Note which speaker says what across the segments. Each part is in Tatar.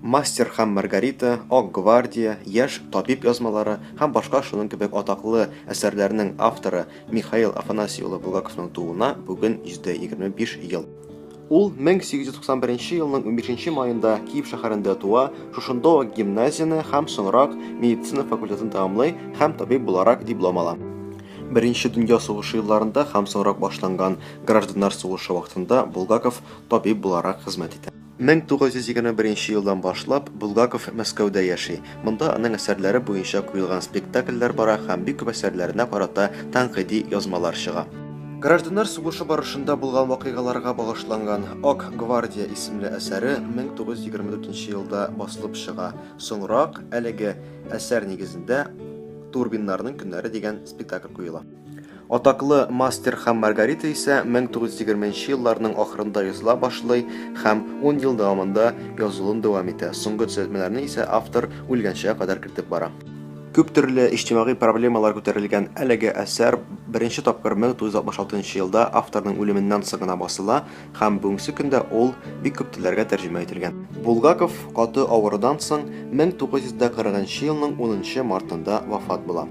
Speaker 1: Мастер һәм Маргарита, Ак гвардия, Яшь табиб язмалары һәм башка шуның кебек атаклы әсәрләрнең авторы Михаил Афанасий улы Булгаковның тууына бүген 125 ел. Ул 1891 елның 15 маенда Киев шәһәрендә туа, шушында ук гимназияне һәм соңрак медицина факультетын тәмамлый һәм табиб буларак диплом ала. Беренче дөнья сугышы елларында һәм соңрак башланган гражданнар сугышы вакытында Булгаков табиб буларак хезмәт итә. 1921 нче елдан башлап Булгаков Мәскәүдә яши. Монда аның әсәрләре буенча куелган спектакльләр бара һәм бик күп әсәрләренә карата тәнкыйди язмалар чыга. Гражданнар сугышы барышында булган вакыйгаларга багышланган Ак гвардия исемле әсәре 1924 нче елда басылып чыга. Соңрак, әлеге әсәр нигезендә Турбиннарның көннәре дигән спектакль куела. Атаклы Мастер һәм Маргарита исә 1920 нче елларның ахырында языла башлый һәм ун ел дәвамында язылуын дәвам итә, соңгы төзәтмәләрне исә автор үлгәнчегә кадәр кертеп бара. Күп төрле иҗтимагый проблемалар күтәрелгән әлеге әсәр беренче тапкыр 1966 нчы елда авторның үлеменнән соң гына басыла, Һәм бүгенге көндә ул бик күп телләргә тәрҗемә ителгән. Булгаков каты авырудан соң 1940 елның 10 мартында вафат була.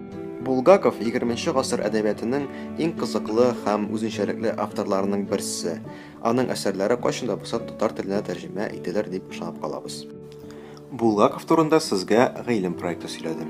Speaker 1: Булгаков, егерменче гасыр әдәбиятының иң кызыклы һәм үзенчәлекле авторларының берсе. Аның әсәрләре кайчан да булса татар теленә тәрҗемә ителер дип ышанып калабыз. Булгаков турында сезгә гыйлем проекты сөйләде.